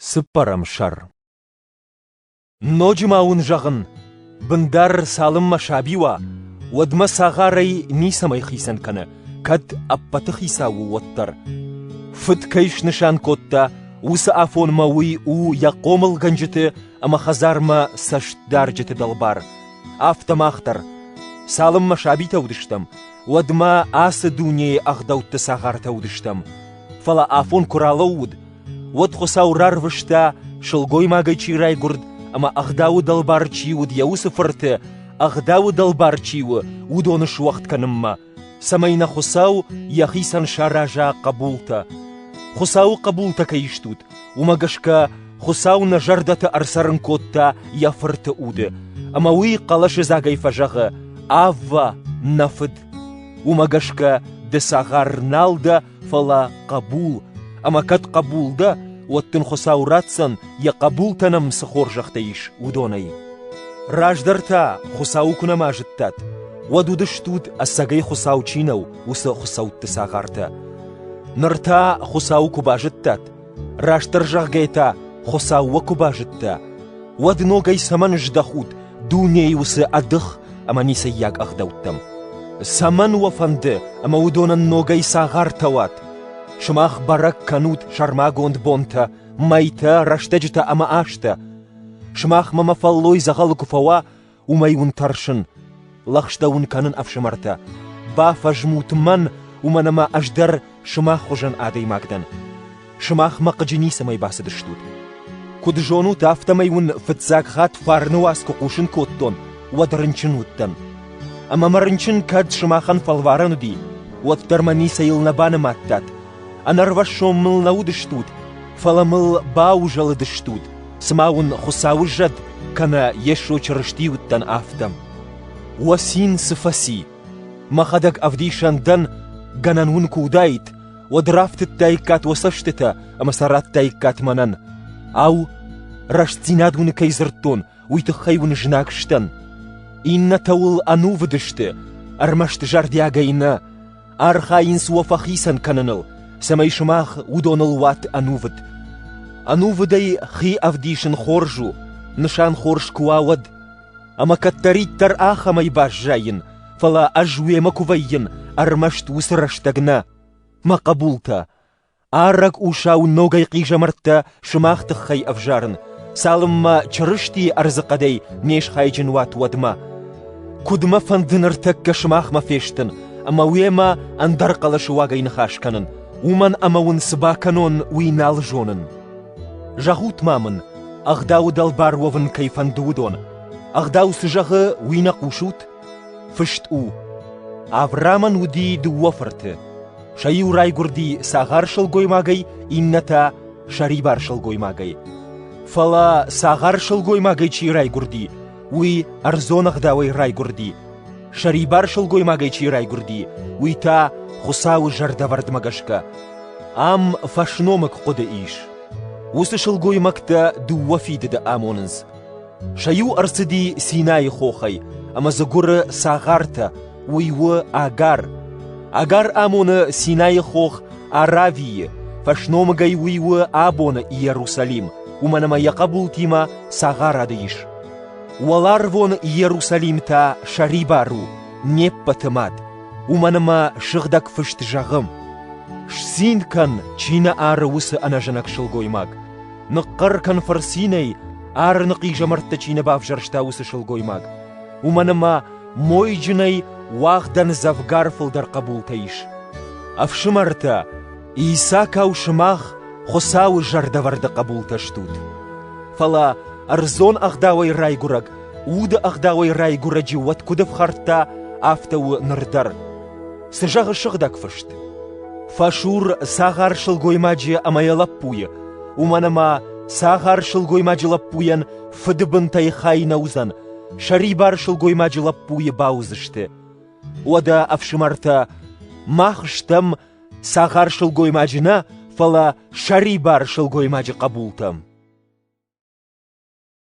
Цыппӕрӕм сӕр Ноджы ма уын зӕгъын, бындар цалынмӕ саби уа, уӕдмӕ цагъарӕй ницӕмӕй хицӕн кӕны, кӕд ӕппӕты хицау у уӕддӕр. Фыд кӕй снысан кодта, уыцы афонмӕ уый у йӕ хъомылгӕнджыты ӕмӕ хӕдзармӕ цӕстдарджыты дӕлбар. Афтӕ мах дӕр, цалынмӕ сабитӕ уыдыстӕм, уӕдмӕ ацы дунейы ӕгъдӕутты цагъартӕ уыдыстӕм. Фӕлӕ афон куы ралӕууыд, Уӕд Хуыцау рарвыста, сылгоймагӕй чи райгуырд ӕмӕ ӕгъдауы дӕлбар чи уыд йӕ уыцы фырты, ӕгъдауы дӕлбар чи у, уыдоны суӕгъд кӕнынмӕ, цӕмӕй нӕ Хуыцау йӕхицӕн сараза хъӕбултӕ. Хуыцауы хъӕбултӕ кӕй стут, уымӕ гӕсгӕ Хуыцау нӕ зӕрдӕты ӕрцӕрын кодта йӕ Фырты уды, ӕмӕ уый хъӕлӕсыдзагӕй фӕзӕгъы: «Аввӕ, нӕ Фыд!» Уымӕ гӕсгӕ ды цагъар нал дӕ, фӕлӕ хъӕбул, ӕмӕ кӕд хъӕбул дӕ, уӕд дын Хуыцау ратдзӕн, йӕ хъӕбултӕ нӕм цы хорзӕхтӕ ис, уыдонӕй. Раздӕр та Хуыцауы куы нӕма зыдтат, уӕд уыдыстут, ӕцӕгӕй Хуыцау чи нӕу, уыцы хуыцӕутты цагъартӕ. Ныр та Хуыцауы куы базыдтат, Растдӕр зӕгъгӕй та, Хуыцаумӕ куы базыдта, уӕд ногӕй цӕмӕн здӕхут дунейы уыцы ӕдых ӕмӕ ницӕййаг ӕгъдӕуттӕм? Цӕмӕн уӕ фӕнды, ӕмӕ уыдонӕн ногӕй цагъартӕ уат? Сымах бӕрӕг кӕнут сӕрмагонд бонтӕ, мӕйтӕ, рӕстӕджытӕ ӕмӕ азтӕ. Сымах мӕмӕ фӕллой дзӕгъӕлы куы фӕуа, уымӕй уын тӕрсын, лӕгъстӕ уын кӕнын, ӕфсымӕртӕ. Бафӕзмут мӕн, уымӕн ӕмӕ ӕз дӕр сымах хуызӕн адӕймаг дӕн. Сымахмӕ хъыджы ницӕмӕй бацыдыстут. Куыд зонут, афтӕмӕй уын фыццаг хатт фарны уац куы хъусын кодтон, уӕд рынчын уыдтӕн. Ӕмӕ мӕ рынчын кӕд сымахӕн фӕлварӕн уыди, уӕддӕр мӕ ницӕйыл нӕ банымадтат, Ӕнӕрвӕссон мыл нӕ уыдыстут, фӕлӕ мыл баузӕлыдыстут, цыма уын Хуыцауы зӕд кӕнӕ Йесо Чырысти уыдтӕн, афтӕ. Уӕ цин цы фӕци! Мӕхӕдӕг ӕвдисӕн дӕн, гӕнӕн уын куы уыдаид, уӕд рафтыдтаиккат уӕ цӕстытӕ ӕмӕ сӕ радтаиккат мӕнӕн. Ау, рӕстдзинад уын кӕй дзырдтон, уый тыххӕй уын знаг сдӕн? Иннӕтӕ уыл ӕнувыд сты, ӕрмӕст зӕрдиагӕй нӕ, Архайынц уӕ фӕхицӕн кӕныныл, цӕмӕй сымах уыдоныл уат ӕнувыд. Ӕнувыдӕй хи ӕвдисын хорз у, нысан хорз куы уа, уӕд. Ӕмӕ кӕддӕриддӕр ахӕмӕй баззайин, фӕлӕ ӕз уемӕ куы вӕййын, ӕрмӕст уыцы рӕстӕг нӕ. Мӕ хъӕбултӕ, Ӕрӕг усау ногӕй хъизӕмӕрттӕ сымах тыххӕй ӕвзарын, цалынмӕ Чырыстийы ӕрдзыхъӕдӕй не схайджын уат уӕдмӕ. Куыд мӕ фӕнды ныртӕккӕ сымахмӕ фестын ӕмӕ уемӕ ӕндӕр хъӕлӕсы уагӕй ныхас кӕнын, уымӕн ӕмӕ уын цы бакӕнон, уый нал зонын. Зӕгъут-ма мын, ӕгъдауы дӕлбар уӕвын кӕй фӕнды уыдон. Ӕгъдау цы зӕгъы, уый нӕ хъусут? Фыст у: Авраамӕн уыди дыууӕ фырты. Сӕ иу райгуырди цагъар сылгоймагӕй, иннӕтӕ сӕрибар сылгоймагӕй. Фӕлӕ цагъар сылгоймагӕй чи райгуырди, уый ӕрдзон ӕгъдауӕй райгуырди. Сӕрибар сылгоймагӕй чи райгуырди, уый та Хуыцауы зӕрдӕвӕрдмӕ гӕсгӕ ам фӕсномыг хъуыды ис. Уыцы сылгоймӕгтӕ дыууӕ фидыды амонынц. Сӕ иу ӕрцыди Синайы хохӕй, ӕмӕ дзы гуыры цагъартӕ, уый у Агар. Агар амоны Синайы хох Аравийы, фӕсномыгӕй уый у абоны Иерусалим, уымӕн ӕмӕ йӕ хъӕбултимӕ цагъарады ис. Уӕларвон Иерусалим та сӕрибар у, не ппӕты мад, уымӕн ӕмӕ Сыгъдӕг Фыст зӕгъы: «Сцин кӕн, чи нӕ ары уыцы ӕнӕзынӕг сылгоймаг». Ныхъхъӕр кӕн фырцинӕй, Арыны хъизӕмӕрттӕ чи нӕ бавзӕрста, уыцы сылгоймаг. Уымӕн ӕмӕ мойджынӕй уӕгъдӕн дзӕвгар фылдӕр хъӕбултӕ ис. Ӕфсымӕртӕ, Исакау сымах Хуыцауы зӕрдӕвӕрды хъӕбултӕ стут. Фӕлӕ ӕрдзон ӕгъдауӕй райгуырӕг, уды ӕгъдауӕй райгуырӕджы уӕд куыд ӕфхӕрдта, афтӕ у ныр дӕр. Цы зӕгъы сыгъдӕг фыст? Фӕсур цагъар сылгоймаджы ӕмӕ йӕ лӕппуйы, уымӕн ӕмӕ цагъар сылгоймаджы лӕппуйӕн фыды бынтӕй хай нӕ уыдзӕн, сӕрибар сылгоймаджы лӕппуйы бауыдзысты. Уӕдӕ, ӕфсымӕртӕ, мах стӕм цагъар сылгоймаджы нӕ, фӕлӕ сӕрибар сылгоймаджы хъӕбултӕ.